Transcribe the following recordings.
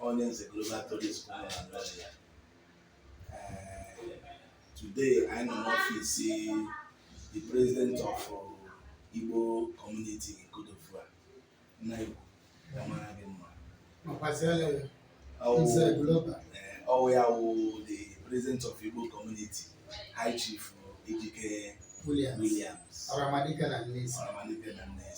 onye nze global tourist ya today anyị nọ n'ọfịs the president of uh, Igbo community in Côte d'Ivoire ọ wụ ya wụ the president of Igbo community high chief Ejike Williams Ọramadike na Nnewi Ọramadike na Nnewi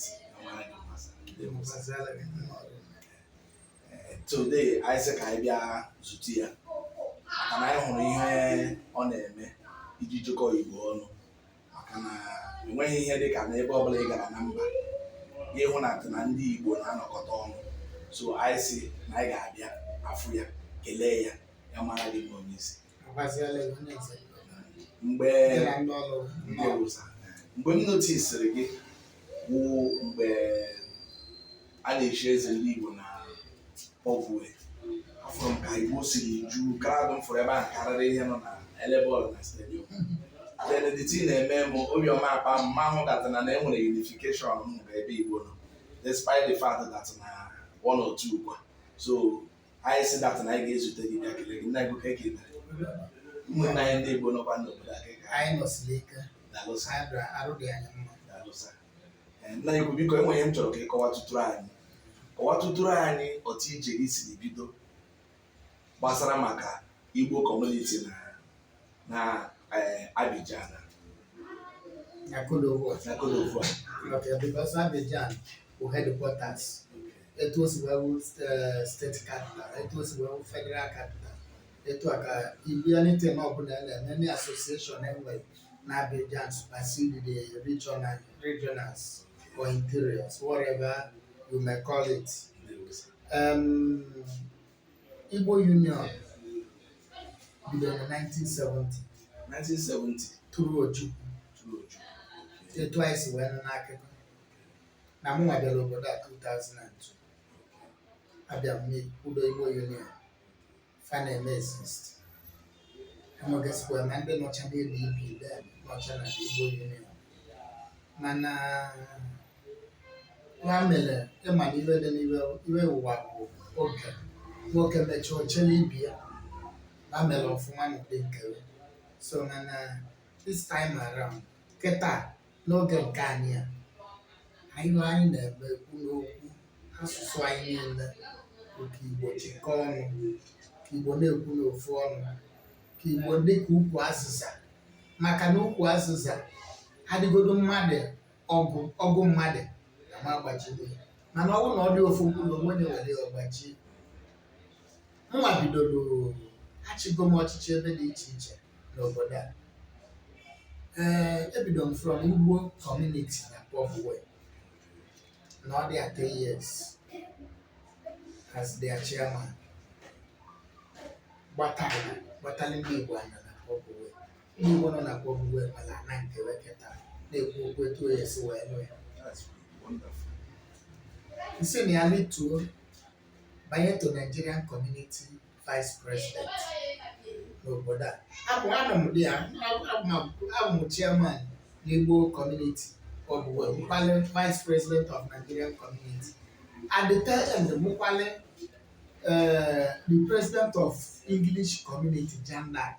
today anyị sị ka anyị bịa zute ya maka na anyị hụrụ ihe ọ na-eme iji jikọọ Igbo ọnụ maka na enweghị ihe dị ka n'ebe ọbụla ị gara na mba ị hụ na na ndị Igbo na-anọkọta ọnụ so anyị si na anyị ga-abịa afụ ya kelee ya ya mara gị bụ onye isi mgbe mgbe m notisiri gị wụ mgbe a na-echi eze ndị Igbo na Port-Bouët afụrụ m ka Igbo siri ju crowd m fụrụ ebe ahụ karịrị ihe nọ na-ele bọọlụ na stadium then the thing na-eme m obi ọma akpa m ma ahụ that na na e nwere unification m hụrụ ebe Igbo nọ despite the fact that na one or two kwa so anyị sị that na anyị ga-ezute gị bịa kelee gị nna Igbo kee ka i mere ụmụnne anyị ndị Igbo nọkwa n'obodo a ka anyị nọsiri ike dalụ sir anyị bịara arụ dị anyị mma dalụ sir nna Igbo biko e nwere ihe m chọrọ ka ị kọwatụtụrụ anyị kọwatụtụrụ anyị otu ije gị si bido gbasara maka Igbo community na na eh, Abidjan na Côte d'Ivoire because Abidjan bụ headquarters etu o si wee wụ eh, state capital etu o si wee wụ federal capital etu a ka ibialite na ọbụla na-eme ndị association e nwere n'Abidjan supersede the regional, regionals or interiors, whatever you may call it. Um, Igbo Union bidoro na 1970 1970 through Ojukwu through Ojukwu etu anyị si wee nụ n'akụkọ na mụ nwa bịara obodo a 2002 abịa m kwudo Igbo Union fa na-eme exist e nwegasịkwa na ndị nọcha n'elu ibi nọcha na Igbo Union mana ya mere ị ma na iwe dị n'iwe iwe ụwa bụ oge nwoke mechaa o chele ibe ya na mere ọfụma n'ụdị nke so na na this time around kịta N'oge nke anyị a, anyị na anyị na-eme ekwu n'okwu asụsụ anyị niile bụ ka Igbo chịkọọ ọnụ, ka Igbo na-ekwu n'ofu ọnụ, ka Igbo dị ka ukwu azịza maka na ukwu azịza adịgodo mmadụ ọgụ ọgụ mmadụ ama agbaji ya mana ọ bụrụ na ọ dị ofu mkpụrụ o nwee onye were ya ọ gbajie mụnwa bidoro achịgo m ọchịchị ebe dị iche iche n'obodo a ee ebido m from Igbo community na Port-Bouët nọdụ ya 10 years as their chairman gbatara gbatara ndị igbo anya na Port-Bouët ndị igbo nọ na Port-Bouët mara ana nke weketa na-ekwu okwu etu onye si wee nụ ya That's wonderful. m si na ya lituo banye to nigerian community vice president n'obodo a abụ anọ m dị ya abụ m chairman n'Igbo community abụ m kwalị vice president of Nigerian community at the tail end m wụkwalị eh, the president of English community Jeanne d'Arc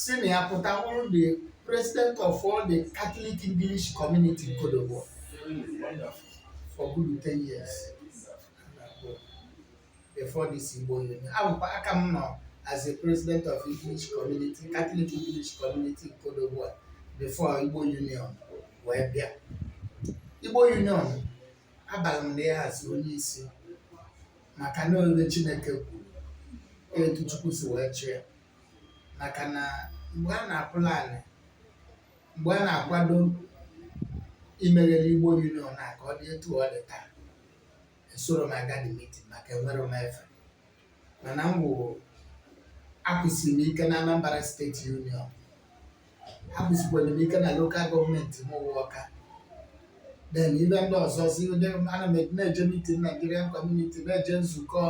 si na ya pụta wụrụ the president of all the Catholic English community Côte d'Ivoire for good ten years. before this Igbo Union. Ọ bụkwa ya ka m nọ as a president of English community, Catholic English community Côte d'Ivoire before Igbo Union wee bịa. Igbo Union abara m na ya as onye isi maka na ọ ihe Chineke kwuru etu Chukwu si wee chọọ ya maka na mgbe a na-aplan ya mgbe a na-akwado imegharị Igbo Union na ka ọ dị etu ọ dị taa esoro m aga the meeting maka enwero m efe mana m wụ akwụsịrị m ike na Anambra State union akwụsịkwara m ike na local government m wụ Ọka then ebe ndị ọzọ si ndị ana m na-eje meeting Nigerian community na-eje nzukọ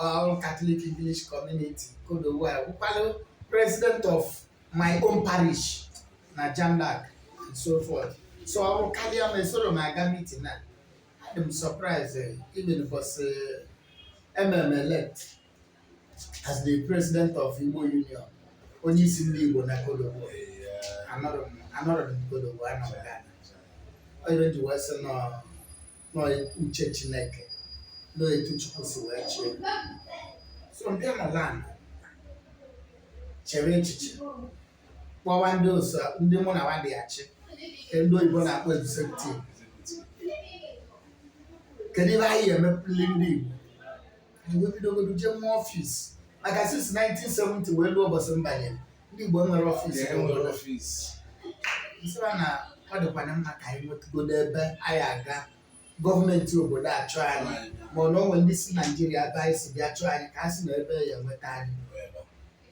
all Catholic English community Côte d'Ivoire wụkwalụ president of my own parish na Jeanne d'Arc and so forth so o bukarịa m esoro m aga meeting na adị m surprise eh, even ụbọchị e me m elect as the president of Igbo Union onye isi ndị Igbo na Côte d'Ivoire anọrọ m anọrọ m Côte d'Ivoire anọ m Ghana ọ nya m ji wee sị na ọ uche Chineke na ọ etu Chukwu si wee chọọ ya so ndị nọ Ghana chere echiche kpọwa ndị osa ndị mụ na wa dị achị nke ndị oyibo na-akpọ executive kedu ihe anyị emepụli ndị Igbo anyị wee bidogodu jee mụọ ọfis maka since 1970 wee luo ụbọchị m banye ndị Igbo enwerọ ọfis Ee, enwerọ ọfịs. m sị wa na ọ dịkwana mma ka anyị nwetụgodo ebe anyị aga gọọmenti obodo achọọ anyị ma ọ na o nwee ndị si Naijiria ebe anyị si bịa chọọ anyị ka a sị na ebe a ya-enweta anyị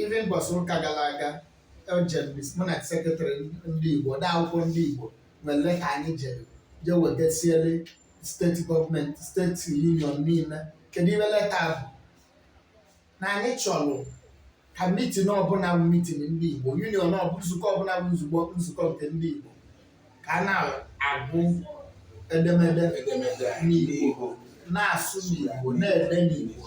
Even mbọsị ụka gara aga eje m mis mụ na sekretrị ndị Igbo ode akwụkwọ ndị Igbo nwere leta anyị jere je wegasiere steeti gọọmenti steeti union niile ihe dị ime leta a bụ na anyị chọrọ ka mitin ọbụla bụ mitin ndị Igbo union ọ bụ nzukọ ọbụla bụ nzukọ nzukọ nke ndị Igbo ka a na-agụ edemede edemede a n'Igbo na-asụ n'Igbo na-ede n'Igbo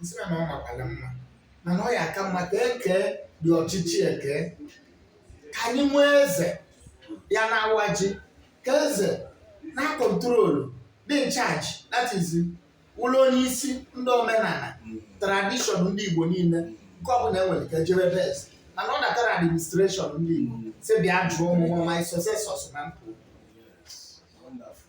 m sị na ọ makwara mma mana ọ ya aka mma ka e kee dị ọchịchị eke ka anyị nwee eze ya na-awa ji ka eze na-akọntrolu dị in charge that is bụrụ onye isi ndị omenala tradishọn ndị igbo niile nke ọbụla e nwere ka e jebe be eze mana ọ bata na administreshọn ndị igbo sị bịa jụọ mụ my successors ma m pụọ Wonderful.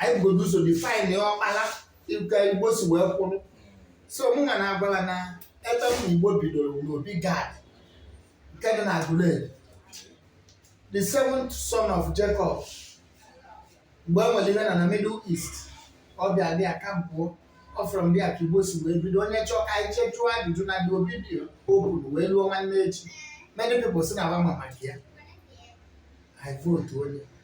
anyị bugodo ụzọ define ọkpala ka igbo si wee kwụrụ so mụ nwa na-agwa wa na ebe ndị igbo bidoro n'obi gad nke dị na aguleri the seventh son of jacob mgbe e nwere ihe na na middle east ọ bịa there kampụọ ọ from there ka igbo si wee bido onye chọọ ka anyị jee jụọ ajụjụ na dị obi dị okwuru wee ruo nwanne echi many people sị na wa ma maka ya i vote onye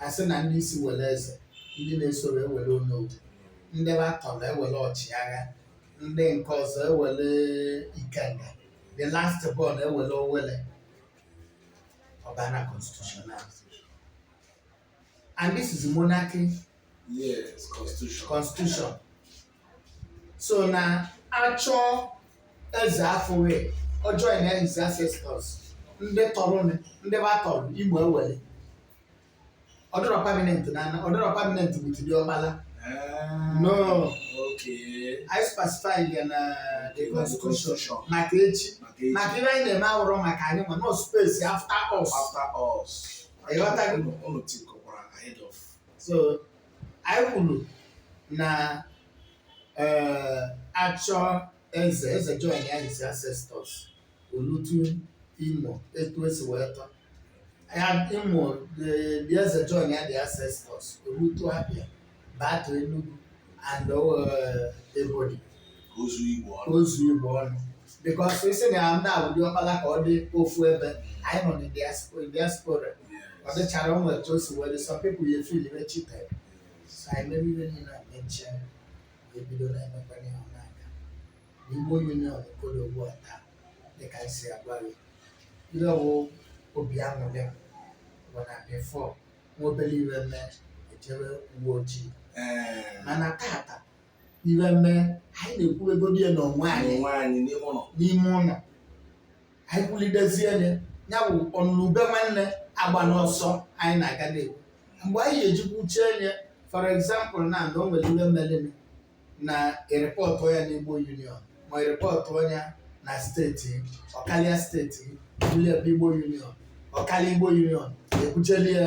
a sị na ndị isi were eze ndị na-esoro ewere onowu ndị wa tọrọ ewere ọchịagha ndị nke ọzọ ewere ikenga the last born ewere owelle ọ baa na constitution and this is monarchy Yes, constitution. constitution so na achọ eze afụwa ọ join ya his ancestors ndị tọrọ nị, ndị wa tọrọ igbo ewere ọ dịrọ permanent na ana ọ dịrọ permanent with the ọkpala Ah, No. Okay. anyị spasifai ya na the constitution maka echi Maka echi. maka ihe anyị na-eme awụrọ maka anyị mana ọ space after us After us. Ịghọtago? Unu- unu thinkkwara ahead of. so anyị kwuru na ee achọ eze eze join ya his ancestors o lute imo etu e si wee tọ ya imo the the eze join ya the ancestors o lute abia bata enugu and uh, ebonyi ozu igbo ọnụ ozu igbo ọnụ because i si na ndị a ụdị ọkpala ka ọ dị ofu ebe anyị nọ na diaspora ọ dịchara o nwe etu o si were some people ya feel very cheated so anyị mere ife niile a mechie ebido na-emekwanye ya n'aka igbo union ka ọ dị ugbu a taa dịka anyị si agwa gị ihe ọ wụ obi aṅụrị m bụ na before nwa obere ife mee ejebe uwe ojii ee mana tata ife mee anyị na-ekwubegodị ya n'onwe anyị n'ime ụlọ anyị kwulidezie ya ya bụ ọnụlube nwanne agbana ọsọ anyị na-aga na-ekwu mgbe anyị ya-eji kwuchee ya for example na na o nwere ife mere na e report ya n'Igbo Union ma e report ya na state ọ kalịa state bulie ebe Igbo Union ọ kalịa Igbo Union ekwucheli ya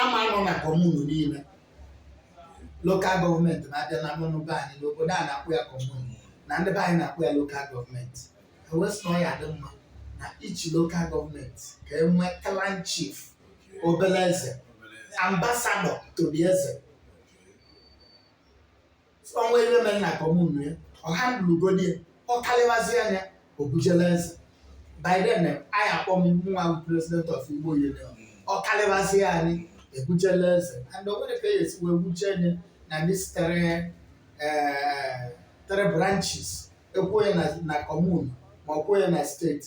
ama nọ na commune niile local government na-abịa na n'ọnụ be anyị n'obodo a na-akpọ ya commune na ndị be anyị na-akpọ ya local government e wee sị na ọ ya-adị mma na each local government ka e nwee clan chief obere eze ambassador to the eze o nwee ife mee na commune ya ọ handlegodi ya ọ kalịwazi ya o bujela eze by then eh, a ya-akpọ mụ nwa president of igbo union ọ kalịwazi anyị ebujela eze and o nwere ka e esi wee buje ya na these three eh, three branches ekwuo ya na- na commune ma ọ kwuo ya na state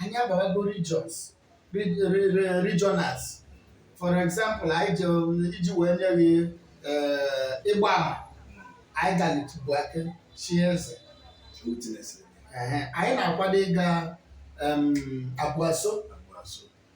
anyị abarago regions regionals for example anyị ji iji wee nye gị eh, ịgba ama anyị galị tụbu aka chie eze Ehe, anyị na-akwado ịga em, Abruzzo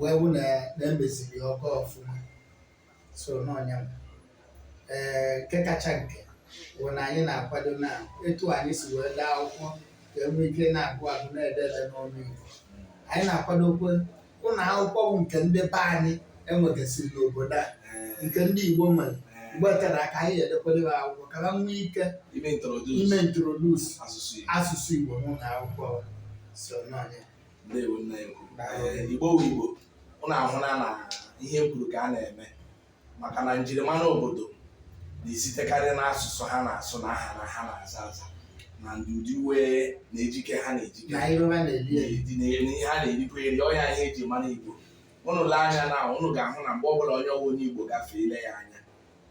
wee hụ na emeziri ya ọ gaa ọfụma so na ọ nya ee nke kacha nke bụ na anyị na-akwado na etu anyị si wee dee akwụkwọ ka e nwee ike na-agụ agụ na-ede ede n'ọnụ Igbo anyị na-akwadokwa ụlọ akwụkwọ bụ nke ndị be anyị enwegasịrị n'obodo a nke ndị Igbo nwere mgbe tere aka anyị edekwere ha akwụkwọ ka ha nwee ike ime introduce asụsụ Igbo n'ụlọ akwụkwọ so na ọ nya ndewo nna ekwu igbo wu igbo ụnụ ahụla na ihe kwuru ka a na-eme maka na njirimara obodo na-esitekarị n'asụsụ ha na-asụ na aha na ha na-aza aza na ndị ụdị uwe na ejike ha na-ejike na ihe ha na-erikwa eri ọ ya ihe eji mara igbo ụnụ lee anya na ụnụ ga-ahụ na mgbe ọbụla onye ọ wụ onye igbo gafee i lee ya anya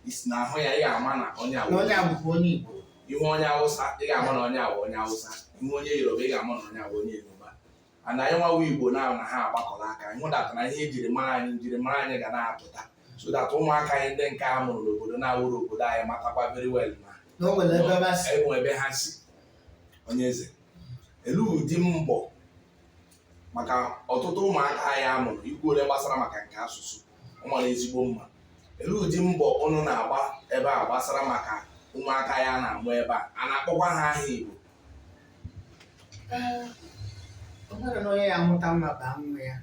i si n'ahụ ya ị ga-ama na onye a wụ onye a bụkwa onye Igbo ị hụ onye awụsa ị ga-ama na onye a wụ onye awụsa ị hụ onye yoruba ị ga-ama na onye a wụ onye yoruba and anyịnwa wụ igbo na na ha agbakọrọ aka anyị hụdata na ihe e jiri mara anyị njiri mara anyị ga na-apụta so that ụmụaka anyị ndị nke a mụrụ n'obodo na-awụrọ obodo anyị matakwa very well na na o nwere ebe ba si e nwe ebe ha si onye eze e lee ụdị mbọ maka ọtụtụ ụmụaka anyị a mụrụ i kwuole gbasara maka nke asụsụ ọ mara ezigbo mma e lee ụdị mbọ ụnụ na-agba ebe a gbasara maka ụmụaka a na-amụ ebe a a na-akpọkwa ha aha Igbo Ee, o nwere na onye ya-amụta nwa baa nwa ya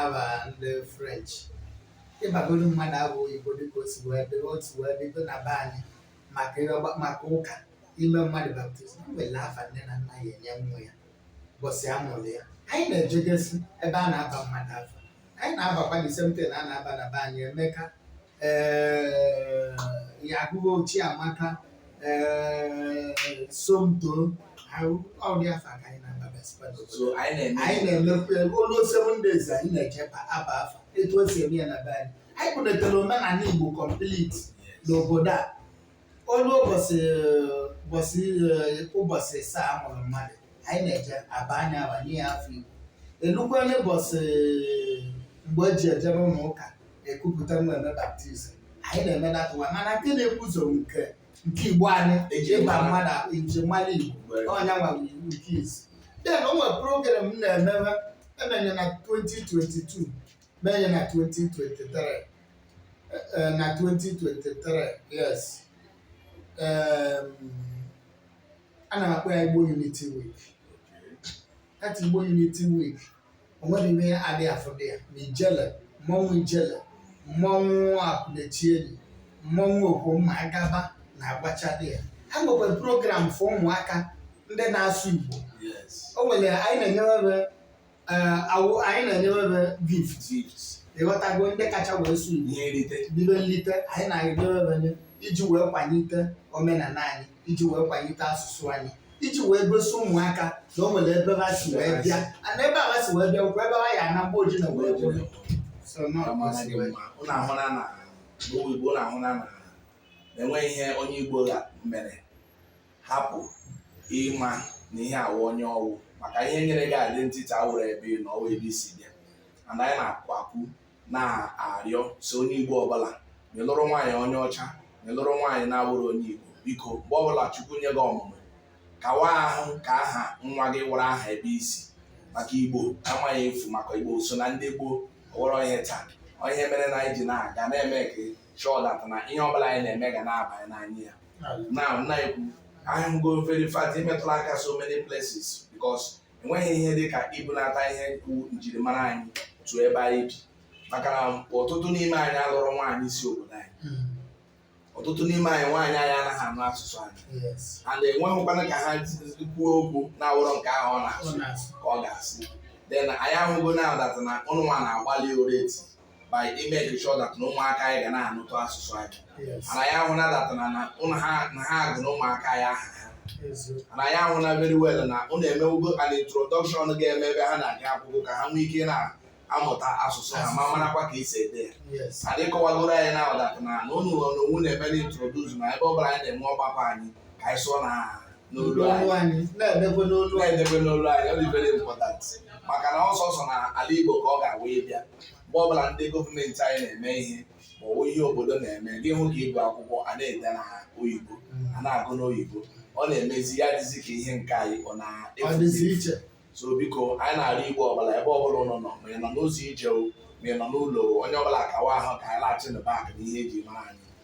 afa ndị french ịbagolu mmadụ afa oyibo dịka o si wee dị otu wee bido na be anyị maka ịrịọgba- maka ụka ime mmadụ baptizim o nwere afa nne na nna ya-enye nwa ya ụbọchị a mụrụ ya anyị na-ejegesi ebe a na-aba mmadụ afa anyị na-abakwa the same thing a na-aba na be anyị emeka ee ya ugochi amaka ee somto ahụ- ụdị afa ka anyị na-abagasịkwa n'obodo so anyị na-eme anyị na-emekwa ya o lu seven days anyị na-eje aba afa etu e si eme ya na be anyị anyị kwụnetara omenala igbo complete n'obodo a O lu ụbọchị ụbọchị eh, ụbọchị asaa a mụrụ mmadụ anyị na-eje aba ya afa nye ya afa igbo e lukwa n'ụbọchị mgbe e ji eje n'ụlọ ụka ekupụta nwa eme baptizim anyị na-eme that one mana nke na-ebu ụzọ nke nke igbo anyị Eji ịba mara. mmadụ njirimara igbo Mgbe- ọ nyanwa bụ iwu nke izizi then o nwere program m na-emebe e mee ya na 2022 mee ya na 2023 eh, na 2023 yes Em, ana m akpọ ya igbo unity week that igbo unity week o nwere ihe adịghị afụ there ma ijele mmọnwụ ijele mmọnwụ akwụnechenyi mmọnwụ okwomma agaba na-agbacha there ha nwekwara program for ụmụaka ndị na-asụ igbo Yes. o nwere anyị na-enyere awụ anyị na-enyewebe gift ịghọtago ndị kacha wee sụ ihe nrite ife nlite anyị na-enyewebe nye iji wee kwalite omenala anyị iji wee kwalite asụsụ anyị iji wee gosi ụmụaka na o nwere ebe ha si wee bịa and ebe ha si wee bịa bụkwa ebe ha ya-ana mgbe o ji na wee bụrụ so nọ Amasị gị mma. Unu ahụna na n'ụwa Igbo unu ahụna na e nweghị ihe onye Igbo ga- mere hapụ ịma na ihe a wụ onye ọ wụ maka ihe nyere gị identity awụrụ ebe ị nọ ọ wụ ebe i si bịa and anyị na-akwụ akwụ na-arịọ sị onye igbo ọbụla onye lụrụ nwaanyị onye ọcha onye lụrụ nwaanyị na-awụrụ onye igbo biko mgbe ọbụla chukwu nye gị ọmụmụ kawa ahụ ka aha nwa gị wụrụ aha ebe i si maka igbo amaghị efu maka igbo so na ndị gboo ọ wụrụ ihe taa ihe mere na anyị ji na-aga na-make sure that na ihe ọbụla anyị na-eme ga na-abanye n'anya ya na na-ekwu ahụ go very fast i metụla aka so many places because enweghị ihe dị ka ibunata ihe bụ njirimara anyị to ebe anyị bi maka na ọtụtụ n'ime anyị alụrọ nwaanyị si obodo anyị hmm. ọtụtụ n'ime anyị nwaanyị anyị anaghị anụ asụsụ anyị and enweghịkwana ka ha kwuo okwu na-awụrọ nke ahụ ọ na-asụ ka ọ ga-asị then anyị ahụgo na that na ụnụ nwa na-agbalị already by making sure that na ụmụaka anyị ga na-anụtụ asụsụ anyị and anyị ahụna that na na ha agụ na ụmụaka anyị aha ha and anyị ahụna very well na ụnụ emewego an introduction ga-eme ebe ha na-aga akwụkwọ ka ha nwee ike na-amụta asụsụ ha ma marakwa ka e si ede ya and ị kọwagoro anyị na that na na ụnụ na onwe na-eme na-introduce na ebe ọ bụla anyị na-enwe ọgbakọ anyị ka anyị sụọ na aha n'olu anyị na-edebe n'olu na-edebe n'olu anyị ọ dị very important maka na ọ sọsọ na ala Igbo ka ọ ga-awụ ịbịa mgbe ọbụla ndị gọọmenti anyị na-eme ihe ma ọ bụ ihe obodo na-eme gị hụ ka ibe akwụkwọ a na-ede na oyibo a na-agụ n'oyibo ọ na-emezi ya dịzi ka ihe nke anyị ọ na-efu iche so biko anyị na-arịọ Igbo ọbụla ebe ọbụla ụnụ nọ ma ị nọ n'ụzọ ije o ma ị nọ n'ụlọ o, onye ọbụla kawa ahụ ka anyị laghachi na back na ihe e ji mara anyị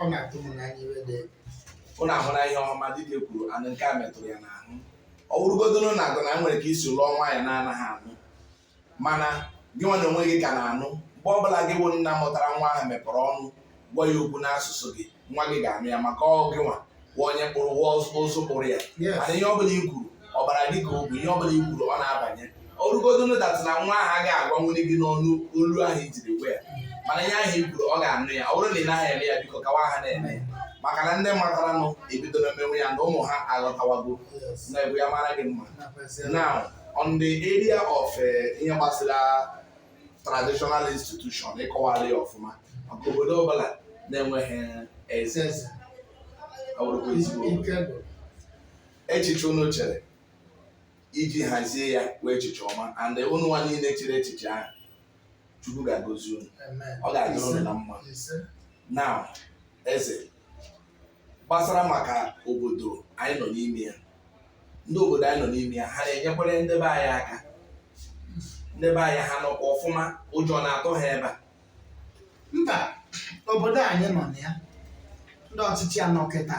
ọ na-atụ m n'anya iwe dị egwu ụnụ anụla ihe Ọhamadike kwuru anụ nke a metụrụ ya n'ahụ ọ wụrụgodoro na agụ na a nwere ka i si lụọ nwaanyị na-anaghị anụ mana gị nwa na onwe gị ka na-anụ mgbe ọ bụla gị wụ nna mụtara nwa ahụ mepere ọnụ gwa ya okwu n'asụsụ gị nwa gị ga-anụ ya maka ọ gị nwa wụ onye kpụrụ wụ ụzụ kpụrụ ya mana ihe ọbụla i kwuru ọbara gị ka ọ wụ ihe ọbụla i kwuru ọ na-abanye ọ wụrụgodonu that na nwa ahụ agaghị agwanwu gị n'ọnụ olu ahụ i jiri gwa ya mana ihe ahụ i kwuru ọ ga-anụ ya ọ bụrụ na ị naghị eme ya biko kawa ahụ na-eme ya maka na ndị mataranụ ebidola mewe ya na ụmụ ha aghọtawago na ebu ya mara gị mma now on the area of eh, ihe gbasara traditional institution ị kọwala ya ọfụma maka obodo ọbụla na-enweghị eze echiche unu chere iji hazie ya wụ echiche ọma and unu nwa niile chere echiche ahụ chukwu ga-agọzi unu ọ ga-adịrị unu na mma now eze gbasara maka obodo anyị nọ n'ime ya ndị obodo anyị nọ n'ime ya ha na-enyekwere ndị be anyị aka ndị be anyị ha nọkwa ọfụma ụjọ na-atụ ha ebe a mba obodo anyị nọ na ya ndị ọchịchị a nọ kịta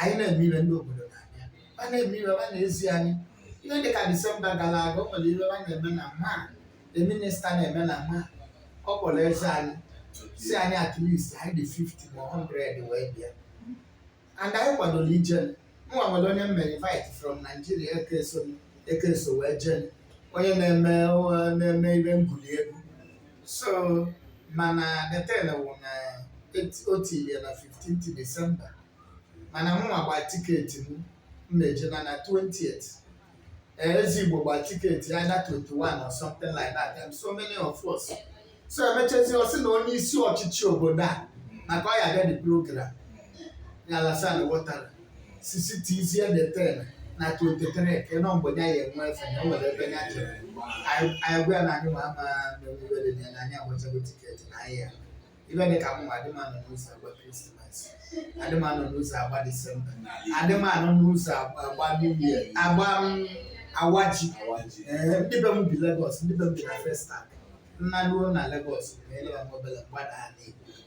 anyị na-eme ihe ndị obodo na-abịa ha na-eme ihe ha na-ezi anyị ihe dị ka disemba gara aga o nwere ihe ha na-eme na Man the minister na-eme na Man ọ kpọrọ eze anyị sị anyị at least anyị dị 50 ma 100 wee bịa and anyị kwadoro ije nwa nwere onye mere invite from Nigeria ekeso ekeso wee jee onye na-eme na-eme ihe ngwuli egwu so mana the thing wụ na o tiri ya na 15th December mana mụnwa gba tiketi m m na-eje na na 20th eze Igbo gba tiketi either 21 or something like that and so many of us so emechezi ọ sị na onye isi ọchịchị obodo a maka ọ ya abịa the program ya Alassane Ouattara sị shiftizie the thing na 23 ka ịnọ mgbe ya ya enwe efe na o nwere ebe ya jere anyị anyị gwa ya na anyị ma ama n'emume dị ya na anyị agbachago tiketi na anyị ya ibe dị ka mụnwa adịmanụ n'ụzọ agba krismas adịmanụ n'ụzọ agba disemba adịmanụ n'ụzọ agba agba new year agba m awaji ee ndị be m bi Lagos ndị be m bi na Festac m naruo na Lagos na ele ya mobele m gbada ala igbo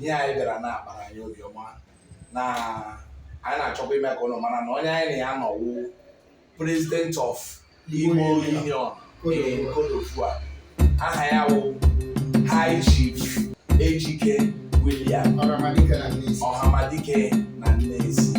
ihe anyị bịara na-akpara anyị obiọma na anyị na-achọkwa ime ka ụnụ mara na onye anyị na ya nọ wụ president of Igbo Union in Côte d'Ivoire aha ya wụ High Chief Ejike William Ọhamadike na Nneisi